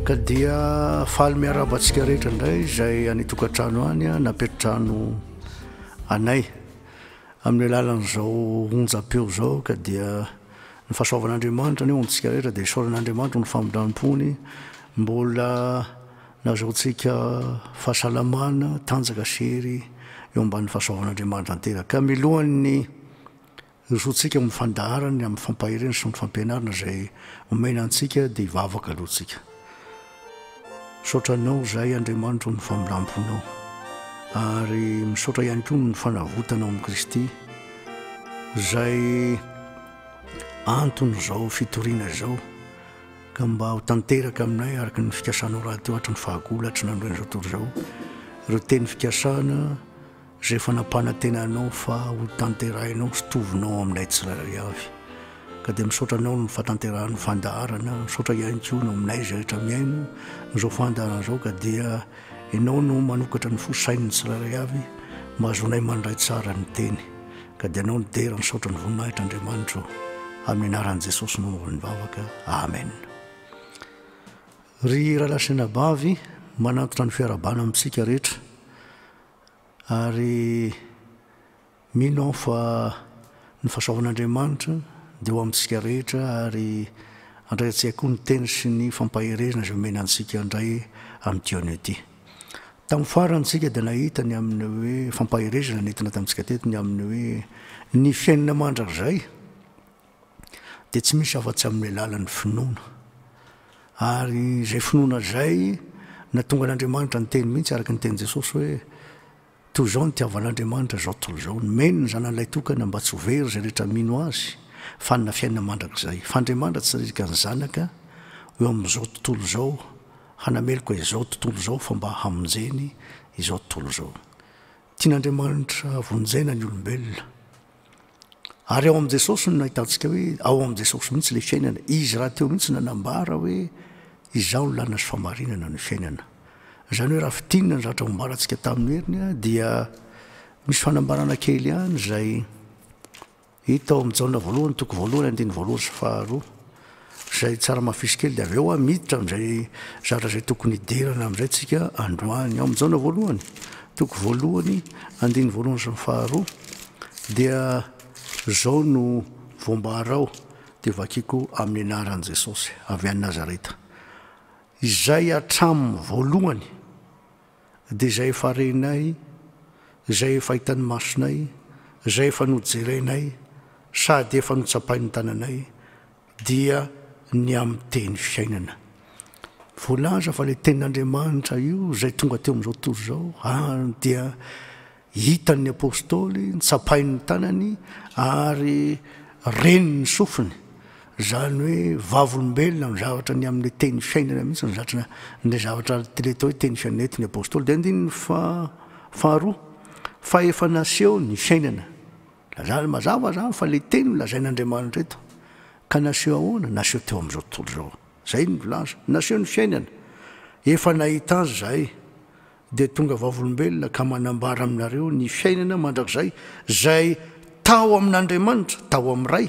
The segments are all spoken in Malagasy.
ka dia faly miaraba antsika rehetra indray izay any tokantrano any a napetrano anay amin'ny alalan'izao onjam-peo izao ka dia ny fahasoavan'andriamanitra ny ontsika rehetra dia isaoran'andriamanitra ny famindram-pony mbola Nazahoantsika fahasalamana, tanjaka sy hery eo ambanin'ny fahasoavan'Andriamanitra tanteraka. Milohan'ny hirosoantsika amin'ny fandaharany ny amin'ny fampaherena sy ny fampianarana izay omena antsika dia hivavaka aloha tsika. Misaotra anao izay Andriamanitro amin'ny familamponao ary misaotra ihany koa ny fanavotanao amin'i Kristy izay anton'izao fitoriana izao. ka mba ho tanteraka aminay araka ny fikasanao rahateo hatry ny fahagolo hatry ny andron'izao tontolo izao ireo teny fikasana izay efa nampanantena anao fa ho tanterahinao sy tovinao aminay tsirairay avy ka dia misaotra anao ny fahatanterahan'ny fandaharana misaotra ihany koa no aminay izay rehetra mihaino izao fandaharana izao ka dia ianao no manokatra ny fo sain'ny tsirairay avy mba azonay mandray tsara ny teny Ka dia anao no dera misaotra ny voninahitra Andriamanitro amin'ny anaran'i Jesosy mamory ny vavaka Amen Ry Rahalahy sy Anabavy manantona ny fiarabana amintsika rehetra ary mino aho fa ny fasahoan'Andriamanitra dia ho amintsika rehetra ary andraiantsika koa ny teny sy ny fampaherezana izay omena antsika indray amin'ity anio ity. Tamin'ny farany isika dia nahita ny amin'ny hoe fampaherezana nentina tamintsika teto ny amin'ny hoe ny fiainana mandrakizay dia tsy misy afa-tsy amin'ny alalan'ny finoana. Ary izay finoana izay na tonga an'Andriamanitra niteny mihitsy araka ny tenin'i Jesosy hoe Toy izao no itiavan'Andriamanitra izao tontolo izao, nomeny ny Zanany Laitokana mba tsy ho very izay rehetra mino Azy, fa hanana fiainana mandrakizay. Fa Andriamanitra tsy nanirika ny Zanaka ho eo amin'izao tontolo izao hanameloka izao tontolo izao fa mba hamonjeny izao tontolo izao. Tian'Andriamanitra vonjena ny olombelona. Ary ao amin'i Jesosy no nahitantsika hoe ao amin'i Jesosy mihitsy ilay fiainana. Izy rahateo mihitsy no nanambara hoe izaho no lalana sy fahamarinana no fiainana. Izany hoe raha fintinina ny zavatra nambarantsika tamin'ny heriny dia misy fanambarana kely ihany izay hita ao amin'i Jaona voalohany toko voalohany andininy voalohany sy faharoa. Izay tsara mafisy kely dia avy eo ah miditra amin'izay zatra izay tokony hidirana amin'izay tsika androany. Ao amin'ny jaona voalohany, toko voalohany, andininy voalohany sy ny faharoa dia izao no voambara ao dia vakiko amin'ny anaran'i Jesosy avy any Nazareta izay hatramin'ny voalohany, dia izay efa renay, izay efa hitan'ny masonay, izay efa nojerenay sady efa notsapain'ny tananay dia ny amin'ny teny fiainana. Voalaza fa ilay tenin'Andriamanitra io izay tonga teo amin'izao tontolo izao ary dia Hitan' ny Apôstôly ny tsapain' ny tanany ary renin' ny sofiny, izany hoe vavolombelona amin' ny zavatra ny amin' ny teny fiainana mihitsy ny zatra ny le zavatra ity le atao hoe teny fiainana eto ny Apôstôly dia andininy faha faharoa fa efa naseho ny fiainana. Lazany mazava izany fa le teny no lazain' Andriamanitra eto ka naseho ahoana? Naseho teo amin' izao tontolo izao. Izay no milaza, naseho ny fiainana, efa nahita azy izahay. dia tonga vavolombelona ka manambara aminareo ny fiainana mandrakizay izay tao amin'Andriamanitra, tao amin'ny Ray,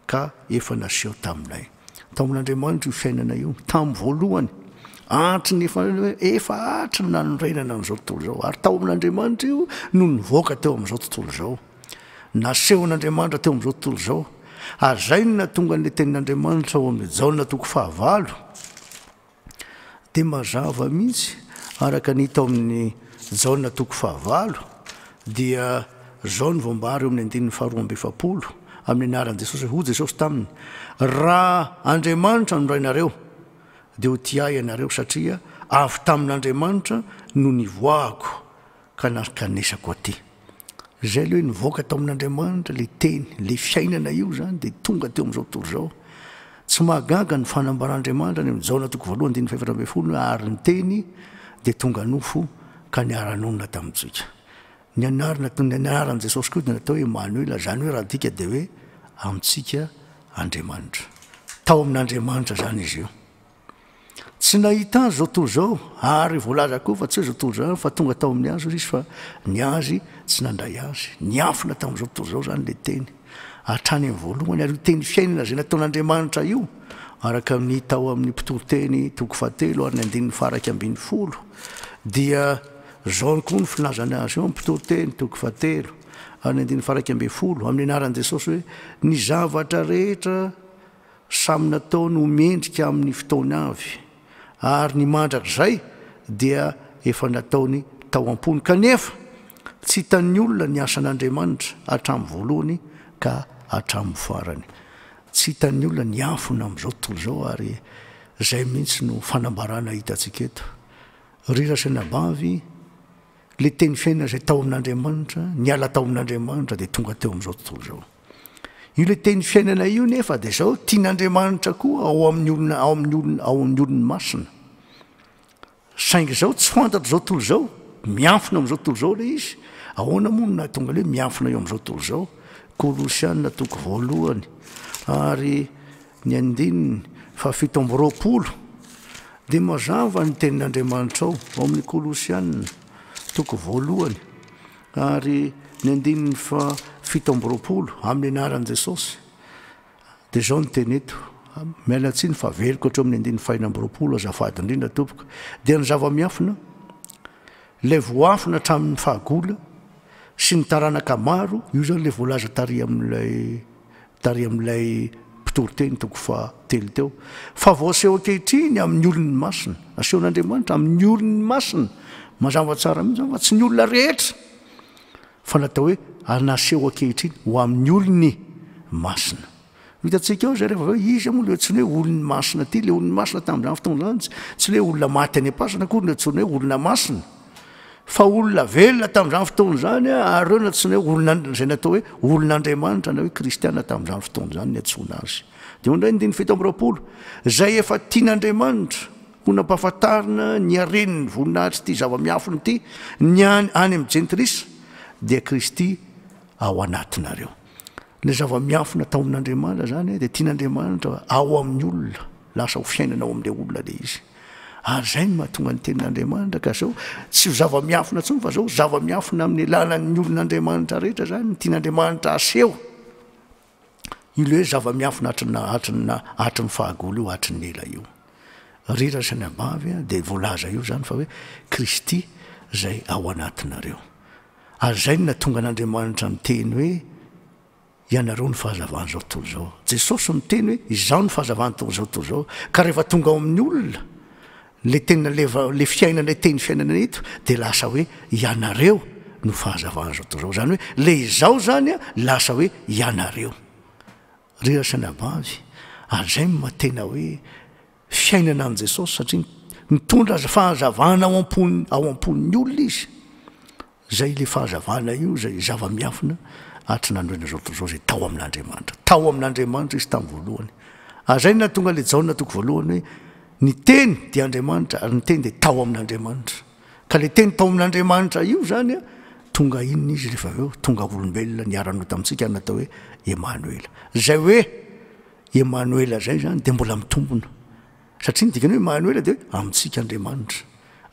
ka efa naseho taminay. Tao amin'Andriamanitra io fiainana io, tamin'ny voalohany, hatry ny efa, efa hatry ny nanorenana an'izao tontolo izao. Ary tao amin'Andriamanitra io no nivoaka teo amin'izao tontolo izao. Nasehon'Andriamanitra teo amin'izao tontolo izao. Ary izay no nahatonga an'ilay tenin'Andriamanitra ao amin'ny Jaona toko fahavalo, dia mazava mihitsy araka ny hita ao amin'ny Jaona toko fahavalo dia izao no voambara eo amin'ny andininy faharoa amby efapolo, amin'ny anaran'i Jesosy, hoy Jesosy taminy, Raha Andriamanitra no Rainareo, dia ho tia Ahy ianareo, satria avy tamin'Andriamanitra no nivoahako ka narkanesako aty. Izay aloha hoe nivoaka tao amin'Andriamanitra ilay Teny, ilay fiainana io izany dia tonga teo amin'izao tontolo izao. Tsy mahagaga ny fanambaran'Andriamanitra any amin'ny Jaona toko voalohany andininy fahefatra ambin'ny folo hoe ary ny Teny dia tonga nofo ka niara-nonina tamintsika. Ny anarana, ny anaran'i Jesosy koa dia natao hoe Emanoela, izany hoe raha adika dia hoe amintsika Andriamanitra. Tao amin'Andriamanitra izany izy io. Tsy nahita azy izao tontolo izao, ary voalaza koa fa tsy hoe izao tontolo izao ihany fa tonga tao amin'ny azy hoy izy fa ny azy tsy nandray azy. Niafina tamin'izao tontolo izao izany ilay teny, hatrany amin'ny voalohany, ary io teny fiainana izay nataon'Andriamanitra io, araka amin'ny hita ao amin'ny Mpitoriteny toko fahatelo ary ny andininy faharaika ambin'ny folo, dia izao ihany koa ny filazany azy eo amin'ny Mpitoriteny toko fahatelo ary ny andininy faharaika ambin'ny folo, amin'ny anaran'i Jesosy hoe, Ny zavatra rehetra Samy nataony ho mendrika amin'ny fotoany avy, ary ny mandrakizay dia efa nataony tao am-pony. Kanefa, tsy hitan'ny olona ny asan'Andriamanitra hatramin'ny voalohany ka hatramin'ny farany. Tsy hitan'ny olona ny afony amin'izao tontolo izao, ary izay mihitsy no fanambarana hitantsika eto. Ry razainabavy, Ilay teny fiainana izay tao amin'Andriamanitra, niala tao amin'Andriamanitra dia tonga teo amin'izao tontolo izao. Io ilay teny fiainana io nefa dia izao tian'Andriamanitra koa ao amin'ny olona ao amin'ny olona ao amin'ny olony masina. Saingy izao tsy fantatra izao tontolo izao, mianfina amin'izao tontolo izao ilay izy. Ahoana moa no nahatonga ilay mianfina eo amin'izao tontolo izao? Kolosiana toko voalohany ary ny andininy fahafito amby roapolo Dia mazava ny tenin'Andriamanitrao ao amin'ny Kolosiana, toko voalohany ary ny andininy fahafito amby roapolo, amin'ny anaran'i Jesosy. Dia izao no teny eto, miala tsiny fa averiko hatreo amin'ny andininy fahenina amby roapolo, azafady indrindra tompoko, dia ny zava-miafina, ilay voafina hatramin'ny fahagola, sy ny taranaka maro, io izany ilay voalaza tary amin'ilay. tarihan'ilay mpitory teny toko fahatelo teo, fa voaseho ankehitriny amin'ny olony masina. Asehon'Andriamanitra amin'ny olony masina. Mazava tsara mihitsy izany fa tsy ny olona rehetra, fa ny atao hoe naseho ankehitriny ho amin'ny olony masina. Hitantsika ao izay rehefa avy eo, iza moa ilay antsoina hoe olony masina ity? Ilay olony masina tamin'izany fotoana izany, tsy ilay hoe olona maty any am-pasana akory no antsoina hoe olona masina. fa olona velona tamin'izany fotoana izany ary reo natsoina hoe olona izay natao hoe olon'andriamanitra na hoe kristiana tamin'izany fotoana izany ny atsoina azy dia ondray ny diny fito amby roapolo izay efa tian'andriamanitra ho nampahafantarina ny haren'ny voninahitry ity zava-miafiny ity ny any any amin'ny jentilisa dia kristy ao anatinareo Ilay zava-miafina tao amin'Andriamanitra izany dia tian'Andriamanitra ao amin'ny olona, lasa ho fiainana ao amin'ilay olona ilay izy. Ary izay no mahatonga ny tenin'Andriamanitra ka izao tsy ho zava-miafina intsony fa izao zava-miafina amin'ny alalan'ny olon'Andriamanitra rehetra izany ny tian'Andriamanitra aseho. Io ilay hoe zava-miafina hatrina hatrina hatrin'ny fahagola io hatrin'ny ela io. Rira sy ny abavy dia voalaza io izany fa hoe Kristy izay ao anatinareo. Ary izay no nahatonga an'Andriamanitra niteny hoe, Ianareo no fahazavan'izao tontolo izao. Jesosy no niteny hoe, Izaho no fahazavan'ny tontolo izao tontolo izao. Ka rehefa tonga ao amin'ny olona, ilay teny naleva, ilay fiainana, ilay teny fiainana eto, dia lasa hoe, Ianareo no fahazavan'izao tontolo izao. Izany hoe, ilay Izaho izany lasa hoe, Ianareo. Ry ry sanabanjy, ary izay no maha tena hoe, Fiainana an'i Jesosy satria mitondra fahazavana ao am-pony, ao am-pon'ny olona izy. Izay ilay fahazavana io izay zava-miafina hatry ny nandroina izao tontolo izao izay tao amin'Andriamanitra. Tao amin'Andriamanitra izy tamin'ny voalohany. Ary izay no nahatonga ilay Jaona toko voalohany hoe ny teny dia Andriamanitra ary ny teny dia tao amin'Andriamanitra. Ka ilay teny tao amin'Andriamanitra io izany an, tonga inona izy rehefa avy eo? Tonga olombelona niara-nota amintsika ary natao hoe Emanoela. Izay hoe Emanoela izay izany dia mbola mitombona. Satria ny dikany hoe Emanoela dia hoe amintsika Andriamanitra.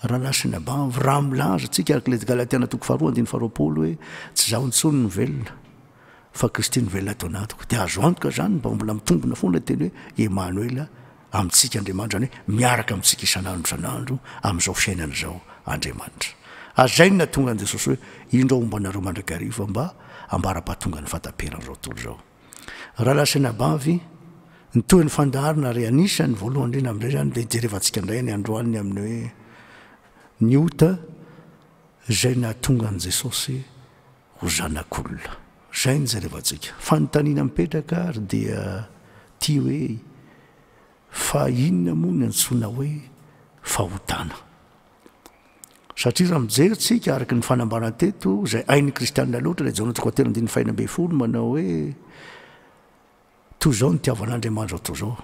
Raha nasin'ny abavy, raha milaza antsika araka ilay Galatiana toko faharoa andininy faharoapolo hoe tsy izaho intsony no velona fa Kristy no velona ato anatiko dia azo antoka izany mba mbola mitombona foana ny teny hoe Emanoela amintsika Andriamanitra izany hoe miaraka amintsika isan'andro isan'andro amin'izao fiainana izao Andriamanitra. Hazainy nahatonga an'i Jesosy hoe indro aho homba anareo mandrakariva mba hambara-pahatongan'ny fahataperan'izao tontolo izao. Ralasanabavy, ny tohin'ny fandaharana ary anisan'ny voalohany indrindra amin'izay izany dia hijerevantsika indray ny androany amin'ny hoe ny ota izay nahatonga an'i Jesosy ho zanak'olona. Izay no hijerevantsika. Fanontaniana mipetraka ary dia ity hoe fa inona moa ny antsoina hoe fahotana? Satria raha mijery tsika araka ny fanambara teto izay ain'ny kristianina loatra ilay jaona toko atelo andin'ny fahina mbe folo manao hoe toy izao ny tiavan'andriamanitra toy izao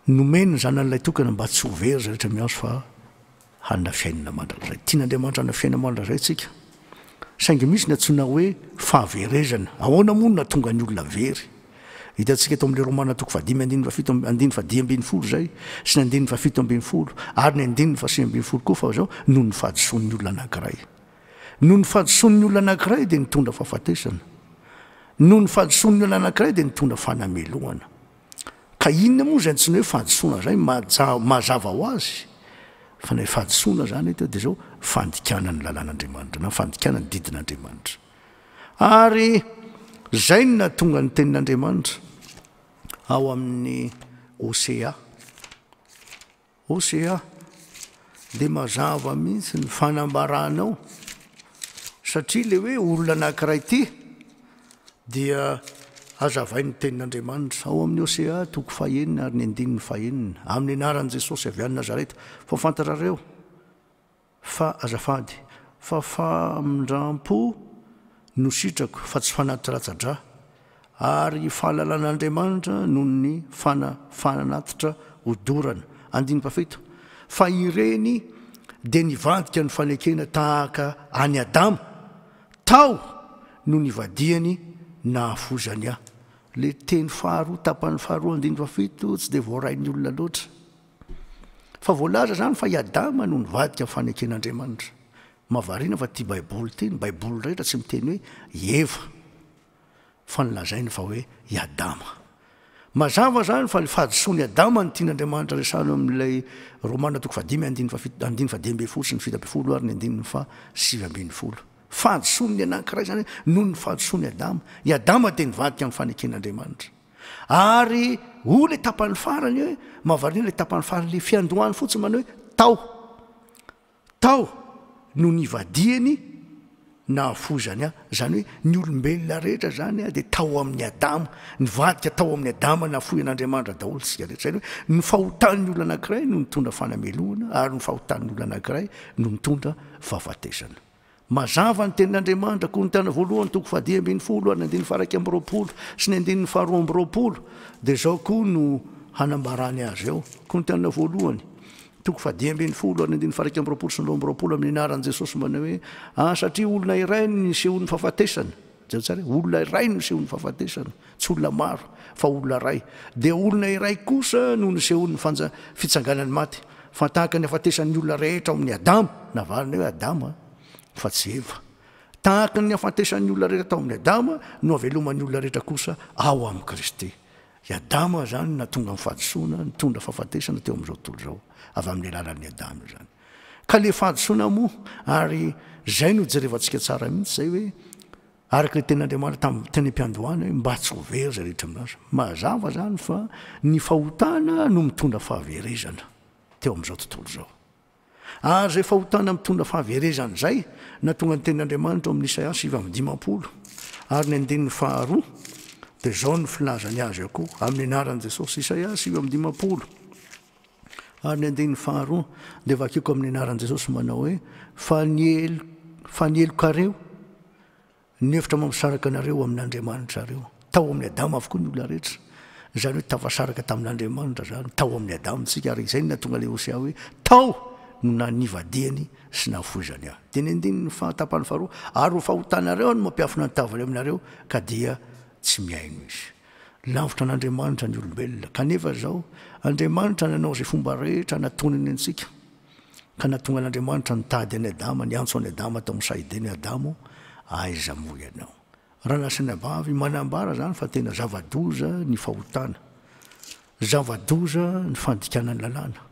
nomeny ny zanan'ilay tokana mba tsy hovery za rehetra miazo fa hanina fiainana mandrakizay tian'andriamanitra hana fiainana mandrakizay tsika Saingy misy ny antsoina hoe fahaverezana. Ahoana moa no nahatonga ny olona very? Hitantsika eto amin'ny Romana toko fahadimy andininy fahafito amby, andininy fahadimy ambin'ny folo izay, sy ny andininy fahafito ambin'ny folo, ary ny andininy fahasivy ambin'ny folo koa fa izao, noho ny fahadisoan'ny olona anankiray. Noho ny fahadisoan'ny olona anankiray dia nitondra fahafatesana. Noho ny fahadisoan'ny olona anankiray dia nitondra fanamelohana. Ka inona moa izay antsoina hoe fahadisoana izay? Mazava ho azy fa ilay fahadisoana izany eto dia izao, fandikana ny lalàn'Andriamanitra na fandikana ny didin'Andriamanitra. Ary izay no nahatonga ny tenin'Andriamanitra ao amin'ny Hosea. Hosea, dia mazava mihitsy ny fanambaranao, satria ilay hoe olona anankiray ity dia hazavain'ny tenin'Andriamanitra ao amin'ny Hosea toko fahenina ary ny andininy fahenina, amin'ny anaran'i Jesosy avy any Nazareta. Fa fantatrareo. Fa azafady, fa famindram-po no sitrako fa tsy fanatiratsa-dra, ary fahalalan'Andriamanitra noho ny fana fanatitra odorana. Andiniko fahafito, Fa ireny dia nivadika ny fanekena tahaka an'i Adama, tao no nivadihany nahafozany ahy. Ilay teny faharoa, tapany faharoa, andiniko fahafito, tsy dia voarain'ny olona loatra. Fa voalaza izany fa i Adama no nivadika ny faneken'Andriamanitra. Mahavariana fa ity Baiboly ity, ny Baiboly rehetra tsy miteny hoe i Eva, fa ny lazainy fa hoe i Adama. Mazava izany fa ny fahadisoan'i Adama no tian'Andriamanitra resahina amin'ilay Romana toko fahadimy andininy fahafito, andininy fahadimy ambin'ny folo sy ny fito ambin'ny folo ary ny andininy fahasivy ambin'ny folo. Fahadisoan'ny anankiray izany hoe noho ny fahadisoan'i Adama. I Adama dia nivadika ny faneken'Andriamanitra. Ary oh le tapany farany hoe mahavariana le tapany farany le fiandohany fotsiny manao hoe tao tao no nivadiany nahafozany a zany hoe ny olombelona rehetra zany a dia tao amin'ny adama nivadika tao amin'ny adama nahafoy an'andriamanitra daholo tsika rehetra zany hoe ny fahotan'ny olo anankiray no nitondra fanamelohana ary ny fahotan'ny olo anankiray no nitondra fahafatesana Mazava ny Tenin'Andriamanitra, Korintiana Voalohany toko fahadimy ambin'ny folo ary ny andininy faha iraika amby roapolo sy ny andininy faharoa amby roapolo, dia izao koa no hanambarany azy eo, Korintiana Voalohany toko fahadimy ambin'ny folo ary ny andininy faha iraika amby roapolo sy ny roa amby roapolo, amin'ny anaran'i Jesosy manao hoe, Ary satria olona iray no nisehoan'ny fahafatesana, Jereo tsara e, olona iray no nisehoan'ny fahafatesana, tsy olona maro, fa olona iray. Dia olona iray kosa no nisehoan'ny fanja, fitsanganan'ny maty. Fa tahaka ny hafatesan'ny olona rehetra ao amin'ny Adama, navaliny hoe Adama, fa tsy Eva. Tahaka ny hafatesan'ny olona rehetra tao amin'ny Adama no haveloman'ny olona rehetra kosa ao amin'i Kristy. I Adama izany no nahatonga ny fahadisoana, nitondra fahafatesana teo amin'izao tontolo izao, avy amin'ny alalan'i Adama izany. Ka le fahadisoana moa ary zay no jerevantsika tsara mihitsy zay hoe araka le tenin'Andriamanitra tamin'ny teny am-piandohana hoe mba tsy ho very zay rehetra milaza. Mazava zany fa ny fahotana no mitondra fahaverezana teo amin'izao tontolo izao. Ary zay fahotana mitondra fahaverezana zay na tonga ny tenin'Andriamanitra ao amin'ny Isaia sivy amby dimampolo ary ny andininy faharoa de zao ny filazany azy akoho amin'ny anaran'i Jesosy Isaia sivy amby dimampolo. Ary ny andininy faharoa dia vakiko amin'ny anaran'i Jesosy manao hoe fa ny helo fa ny helokareo ny hevitra mampisaraka anareo amin'Andriamanitrareo tao amin'ny Adama avokoa ny olona rehetra izany hoe tafasaraka tamin'Andriamanitra zany tao amin'ny Adama tsika ary izay ny natonga le Hosea hoe tao no nanivadihany sy nahafoizany ahy dia ny andininy fahatapany faharoa ary ho fahotanareo no mampiafina ny tavany aminareo ka dia tsy mihaino izy Lavitra an'Andriamanitra ny olombelona, kanefa izao, Andriamanitra nanao izay fomba rehetra hanatonany antsika, ka nahatonga an'Andriamanitra nitady an'i Adama, niantso an'i Adama tao amin'ny Saedena, Adamo, aiza moa ianao? Raha nasaina vavy, manambara izany fa tena zava-doza ny fahotana, zava-doza ny fandikana ny lalàna,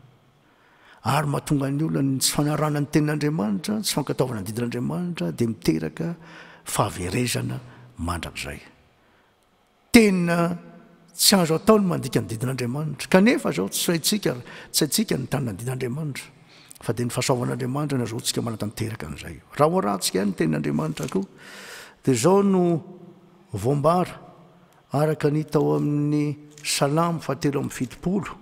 ary mahatonga ny olona ny tsy fanarahana ny tenin'Andriamanitra, tsy fankatoavana ny didin'Andriamanitra, dia miteraka fahaverezana mandrakizay. Tena tsy azo atao ny mandika ny didin'Andriamanitra. Kanefa izao tsy haintsika, tsy haintsika ny tanana didin'Andriamanitra. Fa dia ny fahasoavan'Andriamanitra no azahoantsika manatanteraka an'izay. Raha hoarahantsika ihany ny tenin'Andriamanitra koa, dia izao no voambara araka ny tao amin'ny salamo fahatelo amin'ny fitopolo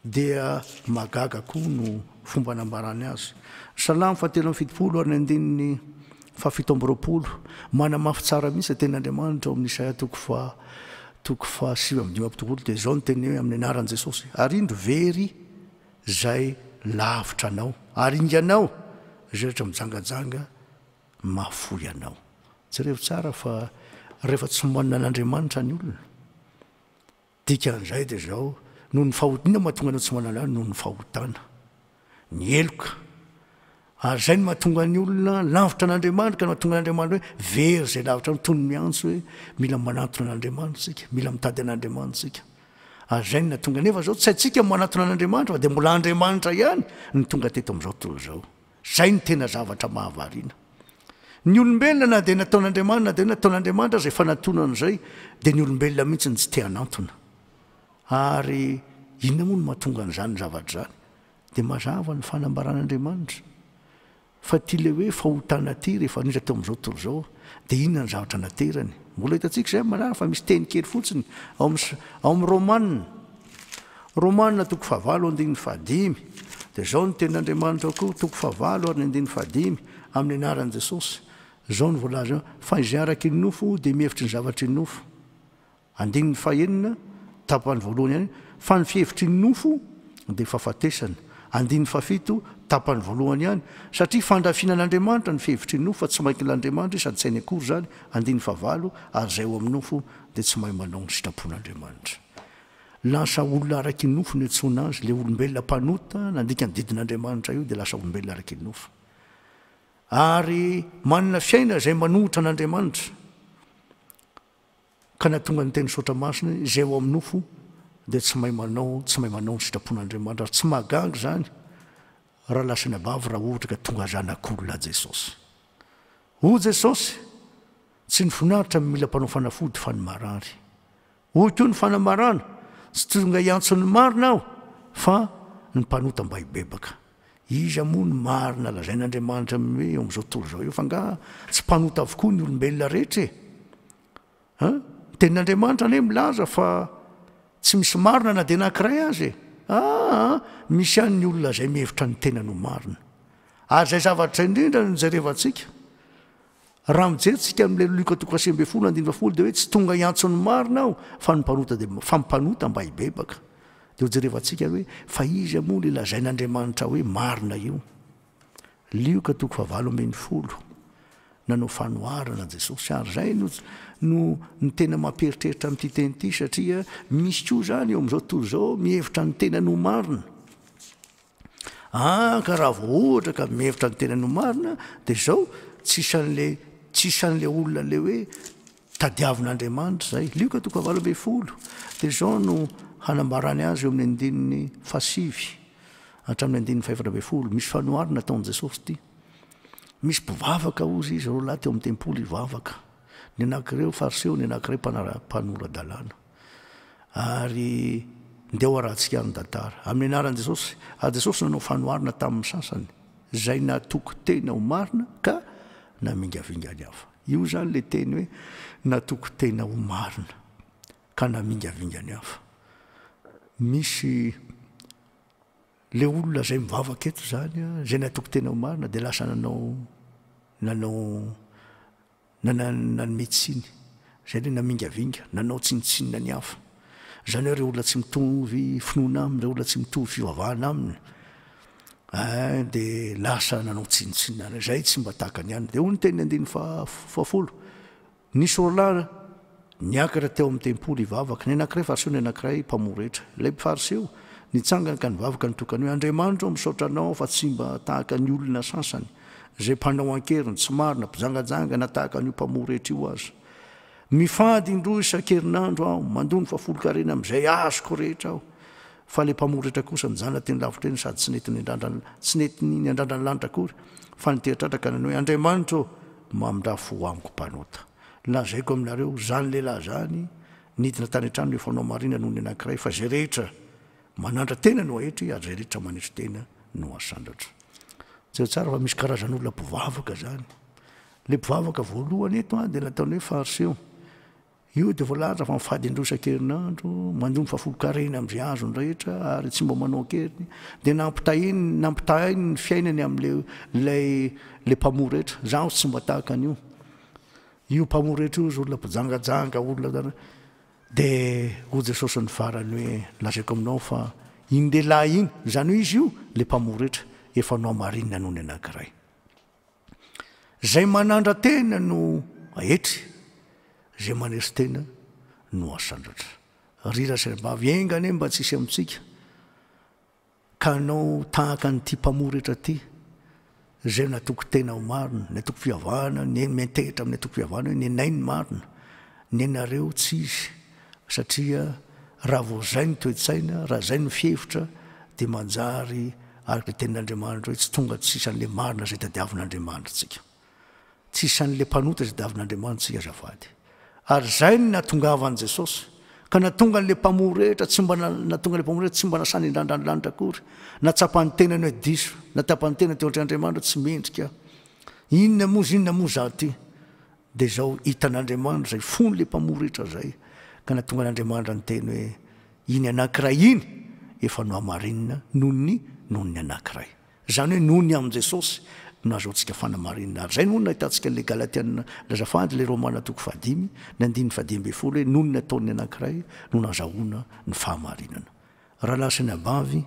dia mahagaga koa no fomba nambarany azy. Salamo fahatelo amin'ny fitopolo ary ny andininy Fahafito amby roapolo, Manamafy tsara mihitsy ny tenin'Andriamanitra ao amin'ny Isaia toko faha toko faha sivy amby dimampolo telopolo dia izao no teniny hoe amin'ny anaran'i Jesosy, Ary indro very izay lavitra anao, ary inganao izay rehetra mijangajanga mahafoy anao. Jerevo tsara fa rehefa tsy manana an'Andriamanitra ny olona Dikan'izay dia izao, noho ny fahot, inona no mahatonga anao tsy manala ahy? Noho ny fahotana, ny heloka. Ary izay no mahatonga ny olona lavitra an'Andriamanitra, ka no mahatonga an'Andriamanitra hoe very izay lavitra aminy, toy ny miantso hoe mila manantona an'Andriamanitra isika, mila mitady an'Andriamanitra isika. Ary izay no nahatonga, nefa izao tsy haintsika ny manantona an'Andriamanitra, fa dia mbola Andriamanitra ihany no tonga teto amin'izao tontolo izao. Izay no tena zavatra mahavariana. Ny olombelona na dia nataon'Andriamanina na dia hoe nataon'Andriamanitra aza efa nantonona an'izay, dia ny olombelona mihitsy no tsy te hanantona. Ary inona moa no mahatonga an'izany zavatra izany? Dia mazava ny fanambaran'Andriamanitra fa ity ilay hoe fahotana ity rehefa niditra teo amin'izao tontolo izao dia inona ny zavatra naterany. Mbola hitantsika izay mazava fa misy teny kely fotsiny ao amin'ny Romana. Romana toko fahavalo andininy fahadimy dia izao ny tenin' Andriamanitra koa toko fahavalo ary ny andininy fahadimy amin' ny anaran' Jesosy, izao no voalazany ao, Fa izay araka ny nofo dia mihevitry ny zavatry ny nofo. Andininy fahenina, tapany voalohany ihany, Fa ny fihevitry ny nofo dia fahafatesana. Andininy fahafito, tapany voalohany ihany, Satria fandrafiana an' Andriamanitra ny fihevitry ny nofo fa tsy main-kina an' Andriamanitra izy sady tsy hainy akory izany. Andininy fahavalo, Ary izay ao amin' ny nofo dia tsy mahay manao ny sitrapon' Andriamanitra. Lasa olona araky ny nofo no iantsoana azy, ilay olombelona mpanota nandika ny didin'Andriamanitra io dia lasa olombelona araky ny nofo. Ary manana fiaina izay manohitra an'Andriamanitra, ka na tonga ny teny saotra masina, izay ao amin'ny nofo dia tsy mahay manao, tsy mahay manao ny sitrapon'Andriamanitra, ary tsy mahagaga izany raha lasa ny abavy raha ohatra ka tonga zanak'olona Jesosy. Hoy Jesosy, Tsy ny finaritra no mila mpanao fanafody fa ny marary. Hoy koa ny fanamarana, Tsy tonga hiantso ny marina aho, fa ny mpanota mba hibebaka. Iza moa no marina lazain'Andriamanitra amin'ny hoe eo amin'izao tontolo izao eo? F'angaha tsy mpanota avokoa ny olombelona rehetra e? An? Ny Tenin'Andriamanitra anie milaza fa tsy misy marina na dia anankiray aza e! Aa! Misy ihany ny olona izay mihevitra ny tenany ho marina. Ary izay zavatra indrindra no jerevantsika, Raha mijery tsika amin'ilay Luka toko fahasivy ambin'ny folo andininy fahafolo dia hoe tsy tonga hiantso ny marina aho fa ny mpanota dia fa ny mpanota mba hibebaka. Dia hojerevantsika ary hoe fa iza moa ilay lazain'Andriamanitra hoe marina io. Lioka toko fahavalo ambin'ny folo. Nanao fanoharana Jesosy ary izay no no ny tena mampieritreritra amin'ity teny ity satria misy koa izany eo amin'izao tontolo izao mihevitra ny tenany ho marina. Ah ka raha vao ohatra ka mihevitra ny tenany ho marina dia izao tsy isan'ilay tsy isan'ilay olona ilay hoe tadiavin'Andriamanitra izay. Lioka toko fahavalo ambin'ny folo dia izao no hanambarany azy eo amin'ny andininy fahasivy hatramin'ny andininy fahefatra ambin'ny folo. Misy fanoharana ataon'i Jesosy ity. Misy mpivavaka hozy izy roa lahy teo amin'ny tempoly hivavaka. Ny anankiray fariseo, ny anankiray mpanora-dalàna. ary ndeha ho arahantsika ny tantara. Amin'ny anaran'i Jesosy, ary Jesosy nanao fanoharana tamin'ny sasany izay natoky tena ho marina ka namingavinga ny hafa. Io izany ilay teny hoe natoky tena ho marina ka namingavinga ny hafa. Misy le olona izay mivavaka eto izany, izay natoky tena ho marina dia lasa nanao nanao Na nanome tsiny. Izay ilay namingavinga, nanao tsinontsinona ny hafa. Izany hoe ireo olona tsy mitovy finoana aminy, ireo olona tsy mitovy fivavahana aminy, eh, dia lasa nanao tsinontsinona anay. Izay tsy mba tahaka ny anay. Dia hoy ny tenin'ny andininy faha, fahafolo, Ny Sorolahy, Niakatra teo amin'ny tempoly hivavaka ny anankiray Fariseo ny anankiray mpamoha rehetra. Ilay Fariseo nitsangana ka nivavaka nitokana hoe, Andriamanitro ô, misaotra anao aho fa tsy mba tahaka ny olona sasany, izay mpanao an-keriny, tsy marina, mpijangajanga na tahaka an'io mpamoha rehetra io aza. Mifady indroa isan-kerinandro aho, mandoa ny fahafolonkarena amin'izay azoko rehetra aho. Fa ilay mpamoha rehetra kosa nijanona teny lavitra eny sady tsy nety niandrandra ny lanitra akory, fa niteha-tratra ka nanao hoe, Andriamanitro ô, mamindrà fo amiko mpanota. Lazaiko aminareo, izany lehilahy izany nidina tany an-trano efa hanao marina noho ny anankiray, fa izay rehetra manandra-tena no haetry, ary izay rehetra manetry tena no hasandratra. Jereo tsara fa misy karazan'olona mpivavaka izany. Ilay mpivavaka voalohany eto dia nataony hoe Fariseo. Io dia voalaza fa mifady indroa isan-kerinandro, mandoa ny fahafolon-karena amin'izay azony rehetra, ary tsy mba manao an-keriny. Dia nampitahainy, nampitahainy ny fiainany amin'ilay, ilay, ilay mpamory rehetra. Izaho tsy mba tahaka an'io. Io mpamory hetra io izy olona mpijangajanga olona de ho Jesosy ny farany hoe lazaiko aminao fa iny lehilahy iny izany hoe izy io le mpamory hetra efa nohamarinina noho ny anankiray zay manandra-tena no ahetry zay maneso tena no asandratra ry rasaibavy enga anie mba tsisy amintsika Ka hanao tahaka an'ity mpamoretra ity, izay natoky tena ho marina, ny antoko fivavahana, ny miantehitra amin'ny antoko fivavahana hoe nenay ny marina, nenareo tsy izy, satria raha vao izay ny toe-tsaina, raha izay ny fihevitra, dia manjary araka ny tenin'Andriamanitra hoe tsy tonga tsy sisan'ilay marina izay tadiavin'Andriamanitra antsika. Tsy isan'ilay mpanota izay davin'Andriamanitra isika azafady. Ary izay no nahatongavan'i Jesosy. Ka nahatonga an'ilay mpamory rehetra tsy mba nahatonga ilay mpamory rehetra tsy mba nasany indrandrany lanitra akory. Nahatsapa ny tenany hoe diso. Nahatsapa ny tenany teo antrehan'i Andriamanitra hoe tsy mendrika aho. Inona moa izy inona moa izaho ity. Dia izao hitan'Andriamanitra izay fon'ilay mpamory rehetra izay. Ka nahatonga an'Andriamanitra niteny hoe iny anankiray iny efa nohamarinina noho ny noho ny anankiray. Izany hoe noho ny amin'i Jesosy no ahazoantsika fanamarinana. Ary izay no nahitantsika an'ilay Galatiana nilaza fahady, ilay Romana toko fahadimy, ny andininy fahadimy ambin'ny folo hoe, noho ny nataon'ny anankiray no nahazahoana ny fahamarinana. Raha lasa ny ambavy,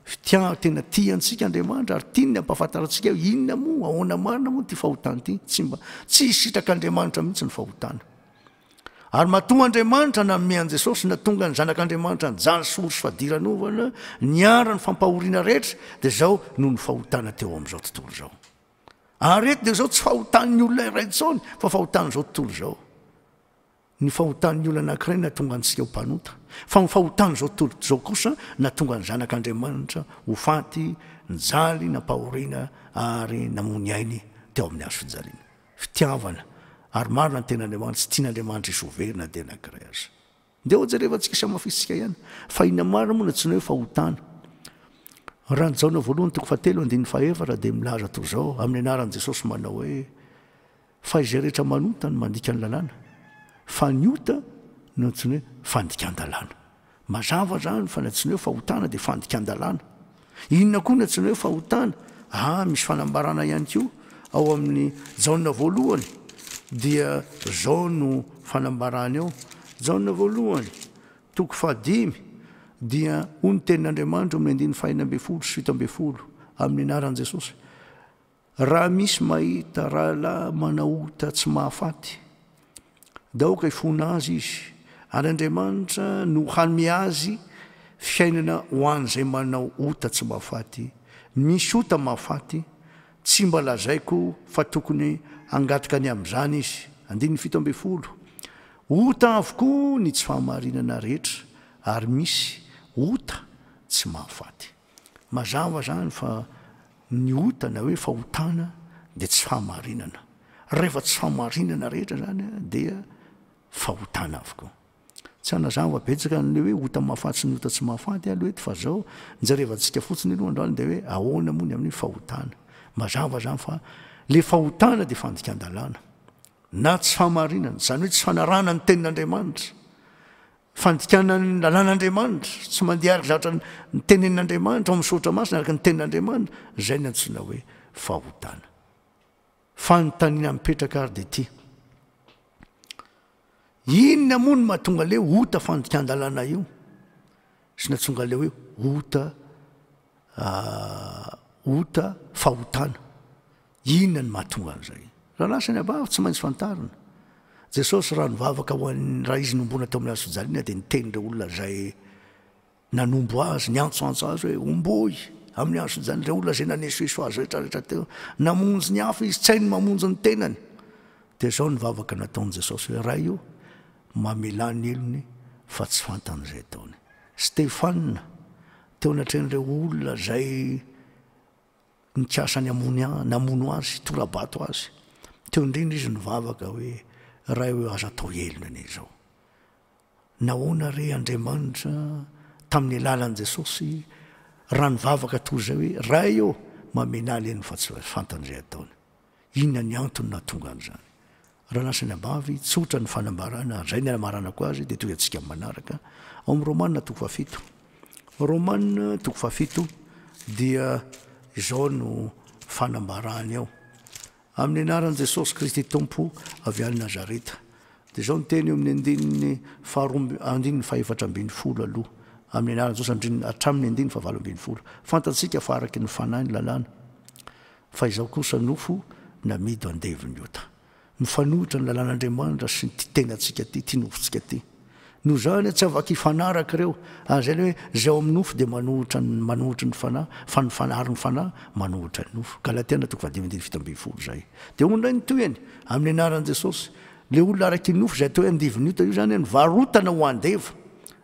fitiav, tena tia antsika Andriamanitra ary tiany ny hampahafantarantsika hoe inona moa, ahoana marina moa ity fahotana ity. Tsy mba, tsy hisitrak'Andriamanitra mihitsy ny fahotana. Ary matoa Andriamanitra nanome an'i Jesosy natonga ny Zanak'Andriamanitra nijaly sory sy fadiranovana, niara ny fampahoriana rehetra, dia izao no ny fahotana teo amin'izao tontolo izao. Ary eto dia izao tsy fahotan'ny olona iray intsony, fa fahotan'izao tontolo izao. Ny fahotan'ny olona anankiray natonga antsika ho mpanota, fa ny fahotan'izao tontolo izao kosa natonga ny Zanak'Andriamanitra ho faty, nijaly, nampahoriana, ary namoa ny ainy teo amin'ny hazo fijaliana. fitiavana ary marina ny tenin'Andriamanitra sy tian'Andriamanitra hisy ho very na dia anankiray aza. Ndeha ho jerevantsika sy hamafisintsika ihany fa inona marina moa no antsoina hoe fahotana. Raha ny Jaona voalohany toko fahatelo andininy fahaefatra dia milaza toy izao amin'ny anaran'i Jesosy manao hoe fa izay rehetra manota no mandika ny lalàna fa ny ota no antsoina hoe fandikan-dalàna. Mazava zany fa na tsy ny hoe fahotana dia fandikan-dalàna. Inona koa na tsy ny hoe fahotana ah misy fanambarana ihany koa ao amin'ny Jaona voalohany dia zao no fanambarany ao Jaona voalohany toko fahadimy dia hoy ny tenin'Andriamanitra ao amin'ny andininy fahenina ambin'ny folo sy fito ambin'ny folo amin'ny anaran'i Jesosy Raha misy mahita rahalahy manao ota tsy mahafaty, dia aoka hifona azy izy, ary Andriamanitra no hanome azy fiainana ho an'izay manao ota tsy mahafaty. Ny misy ota mahafaty, tsy mba lazaiko fa tokony hangataka ny amin'izany izy. Andininy fito ambin'ny folo. Ota avokoa ny tsy fahamarinana rehetra, ary misy ota tsy mahafaty. Mazava zany fa ny ota na hoe fahotana dia tsy fahamarinana. Rehefa tsy fahamarinana rehetra zany dia fahotana avokoa. Tsy hanazava betsaka an'le hoe ota mahafaty sy ny ota tsy mahafaty alo eto fa zao jerevantsika fotsiny aloha androany dia hoe ahoana moa ny amin'ny fahotana. Mazava zany fa le fahotana dia fandikan-dalàna na tsy fahamarinana, zany hoe tsy fanarahana ny tenin'Andriamanitra. Fandikana ny lalàn'Andriamanitra, tsy mandeha araka izay ohatra ny tenenin'Andriamanitra ao amin'ny soratra masina araka ny tenin'Andriamanitra, izay no antsoina hoe fahotana. Fanontaniana mipetraka ary dia ity, inona moa no mahatonga le ota fandikan-dalàna io? Sy natsonga le hoe ota ah, ota fahotana. Inona no mahatonga an'izay? Raha lasa ny abavy, tsy maintsy fantarina. Jesosy raha nivavaka ho an'ny, raha Izy nomboana tao amin'ny hazofijaliana dia niteny ireo olona izay nanombo Azy, niantsoantso Azy hoe, Omboy amin'ny hazofijaliana, ireo olona izay nanesoeso Azy rehetrarehetra teo. Namonjy ny hafa Izy, tsy hainy mamonjy ny tenany. Dia izao ny vavaka nataon'i Jesosy hoe, Ray o, mamelà ny helony fa tsy fantany izay ataony. Stefana, teo anatrehan'ireo olona izay. Nikasa ny hamono ahy, namono azy, hitora-bato azy. Teo indrindra izy nivavaka hoe, Ray o, aza atao helony anie izao. Nahoana re Andriamanitra, tamin'ny alalan'i Jesosy, raha nivavaka toy izay hoe, Ray ô, mamena ahy leny fa tsy fantany izay ataony. Inona ny antony nahatonga an'izany? Raha lasa ny ambavy, tsotra ny fanambarana, ary izay ny anamaranako azy, dia toy antsika amin'ny manaraka, ao amin'ny Romana toko fahafito. Romana toko fahafito dia izao no fanambarany ao, Amin'ny anaran'i Jesosy Kristy Tompo avy any Nazareta. Dia izao ny teny eo amin'ny andininy faharoa amby, andininy fahefatra ambin'ny folo aloha, Amin'ny anaran'i Jesosy, andrininy, hatramin'ny andininy fahavalo ambin'ny folo. Fantatsika fa araka ny Fanahy ny lalàna. Fa izao kosa nofo namido andevon'ny ota. Mifanohitra ny lalàn'Andriamanitra sy ity tenantsika ity, ity nofontsika ity. Noho izany, tsy afaka hifanaraka ireo, ary izay ilay hoe izay ao amin'ny nofo dia manohitra ny manohitry ny Fanahy, fa ny Fanahy ary ny Fanahy manohitra ny nofo. Galatiana toko faha dimy andininy fito ambin'ny folo izay. Dia hoy indray ny tohiny, amin'ny anaran'i Jesosy, ilay olona araky ny nofo izay atao hoe andivon'ny ota io izany, no varotana ho andevo.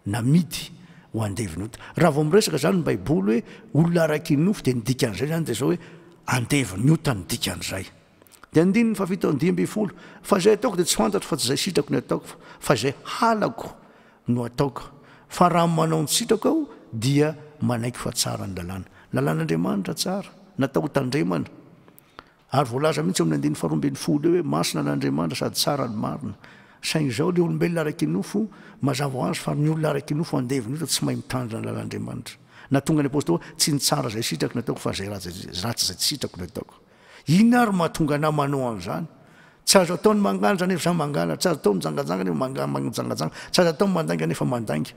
namidy ho andevon'ota. Raha vao miresaka izany ny Baiboly hoe olona araka iny nofo, dia ny dikan'izay izany dia izao hoe andevon'ny ota ny dikan'izay. Dia andininy fahafito amby dimy ambin'ny folo, Fa izay ataoko dia tsy fantatro fa tsy izay sitrako ny ataoko, fa izay halako no ataoko. Fa raha manao ny sitrako aho, dia manaiky fa tsara ny lalàna. Lalàn'Andriamanitra tsara, natao hotandremana. Ary voalaza mihitsy ao amin'ny andininy faharoa ambin'ny folo eo hoe, Masina an'Andriamanitra sady tsara ny marina. Saingy izao ilay olombelona ara-kinofo, mazava ho azy fa ny olona ara-kinofo andevony eto tsy mahay mitandrina ny lalan'Andriamanitra. Nahatonga ny apostoly hoe, Tsy ny tsara izay sitrako no ataoko fa izay ratsy izay tsy sitrako no ataoko. Inona ary no mahatonga anao manao an'izany? Tsy azo atao ny mangalatra nefa izaho mangalatra, tsy azo atao ny mijangajanga nefa mijangajanga, tsy azo atao ny mandainga nefa mandainga.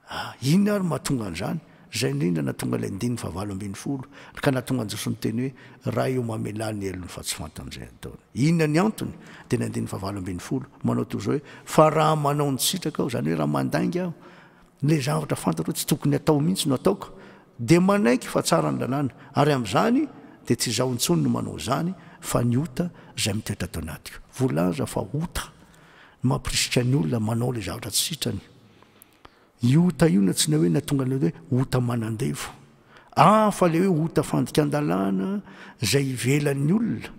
Ah! inona ary mahatonga an'izany? Izay indrindra nahatonga ilay andininy fahavalo ambin'ny folo, ka nahatonga an'i Jesosy niteny hoe, Raha eo mamelà ny helony fa tsy fantany izay ataony. Inona ny antony? Dia ny andininy fahavalo ambin'ny folo, manao toy izao hoe, Fa raha manao ny sitrakao, izany hoe raha mandainga aho, ilay zavatra fantatro hoe tsy tokony hatao mihitsy no ataoko, dia manaiky fa tsara ny lalàna, ary amin'izany dia tsy izaho intsony no manao izany, fa ny ota izay mitoetra ato anatiko. Voalaza fa ota no mampirisika ny olona manao ilay zavatra tsy sitrany. Io ota io na tsy na hoe na tonga na hoe ota manandevo. Hafa le hoe ota fandikan-dalàna zay ivelan'ny olona.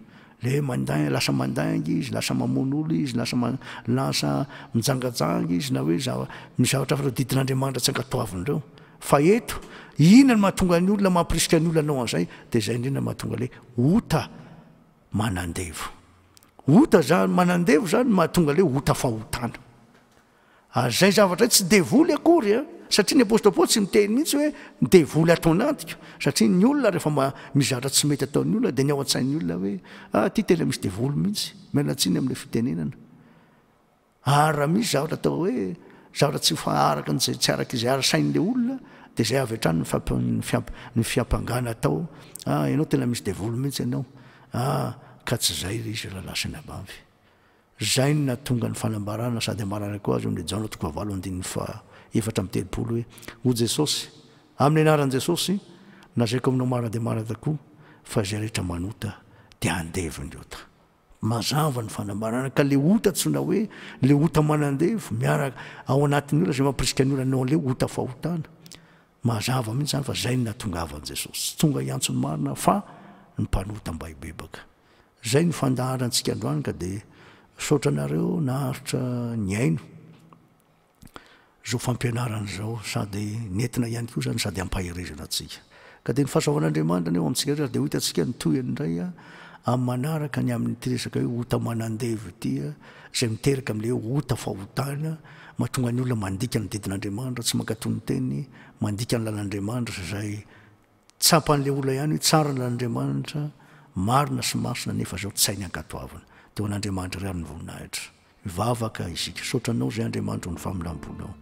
Le mandain, lasa mandainga izy, lasa mamono olona izy, lasa ma, lasa mijangajanga izy na hoe zava, ny zavatra hafa tadidin'Andriamanitra tsy ankatoaviny reo. Fa eto, inona no mahatonga ny olona, mampirisika ny olona hanao an'zay? De zay indrindra no mahatonga le ota manandevo. Ota zany, manandevo zany no mahatonga le ota fahotana. Ary izay zavatra izay tsy devoly akory an! Satria ny apostle Paoly tsy miteny mihitsy hoe devoly ato anatiko. Satria ny olona rehefa mba mizatra tsy mety ataon'ny olona dia ny ao an-tsain'ny olona hoe ah ity tena misy devoly mihitsy. Miala tsiny amin'ilay fitenenana. Ary raha misy zavatra atao hoe zavatra tsy faharaka an'izay tsy araka izay ara-sain'ilay olona dia izay avy hatrany ny fiampangana atao ah ianao tena misy devoly mihitsy ianao ah ka tsy izay ilay izy raha lasa any ambavy. Izay no nahatonga ny fanambarana sady ambarana koa azy eo amin'ilay Jaona toko fahavalo andininy faha efatra amby telopolo hoe, Hoy Jesosy, Amin'ny anaran'i Jesosy, nazaiko aminao marina dia marina tokoa, fa izay rehetra manota dia handevo ny ota. Mazava ny fanambarana ka ilay ota antsoina hoe, ilay ota manandevo, miaraka ao anatin'ny olona izay mampirisika ny olona hanao an'ilay ota fahotana. Mazava mihitsy izany fa izay no nahatongavan'i Jesosy tsy tonga hiantso ny marina fa ny mpanota mba hibebaka. Zay no fandaharantsika androany ka dia misaotra anareo naharitra nihaino zao fampianarana izao sady nentina ihany koa izany sady ampaherezana antsika. Ka dia ny fahasoavan'Andriamanitra anie ho amintsika rehetra ary dia ho hitantsika ny tohiny indray amin'ny manaraka ny amin'ity resaka hoe ota manandevo ity izay miteraka amin'ilay hoe ota fahotana mahatonga ny olona mandika ny didin'Andriamanitra, tsy mankatò ny teniny, mandika ny lalan'Andriamanitra izay Tsapan'ilay olona ihany hoe tsara ny lalan'Andriamanitra, marina sy masina nefa izao tsy hay ny ankatoavina. Dia ho an'Andriamanitra irery ny voninahitra. Mivavaka isika. Misaotra anao izay Andriamanitra ho ny famindram-ponao.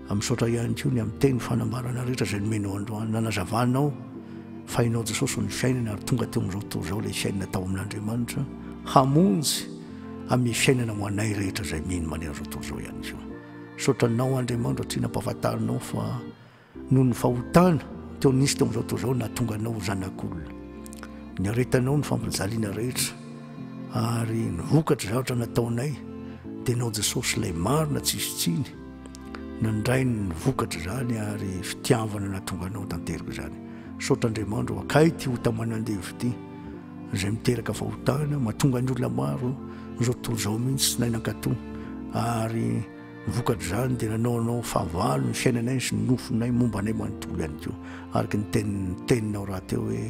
A Misaotra ihany koa ny amin'ny teny fanambarana rehetra izay nomenao androany. Nanazavanao fa Ianao Jesosy ho ny fiainana ary tonga teo amin'izao tontolo izao ilay fiainana tao amin'Andriamanitra hamonjy amin'ny fiainana ho anay rehetra izay mino manerana izao tontolo izao ihany koa. Misaotra Anao Andriamanitra satria nampahafantarinao fa Noho ny fahotana teo nisy teo amin'izao tontolo izao nahatonga anao ho zanak'olona. Niaretanao ny fampijaliana rehetra ary ny vokatry zavatra nataonay dia ianao Jesosy ilay marina tsy hisy tsiny nandray ny vokatry izany ary fitiavana nahatonga anao tanteraka izany. Misaotra Andriamanitra akay ity ota manandevo ity izay miteraka fahotana mahatonga ny olona maro izao tontolo izao mihitsy tsy naina ankatoa ary Vokatr'izany dia nanaonao fahavalo ny fiainanay sy ny nofinay momba anay manontolo ihany koa, araka ny teninao rahateo hoe,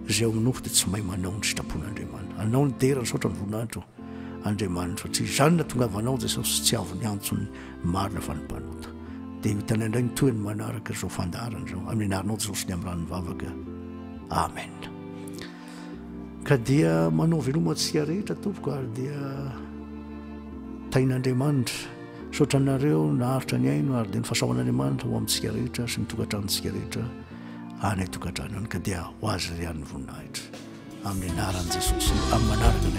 Izay ao amin'ny nofo dia tsy mahay manao ny sitrapon'Andriamanitra. Anao no dera, nisaotra ny voninahitro, Andriamanitro, satria izany no nahatongavanao, Jesosy, tsy avon'ny antson'ny marina fa ny mpanota. Dia ho hitanay indray ny tohiny manaraka izao fandaharana izao, amin'ny anaranao Jesosy ny amin'ny ran'ny vavaka. Amen. Ka dia manao veloma antsika rehetra tompoko ary dia tahin'Andriamanitra. Misaotra anareo naharitra ny aino ary dia ny fahasahoan'Andriamanitra ho amintsika rehetra sy ny tokantranontsika rehetra any an-tokantrano any ka dia ho azy ry an'ny voninahitra amin'ny anaran'i Jesosy amin'ny manaraka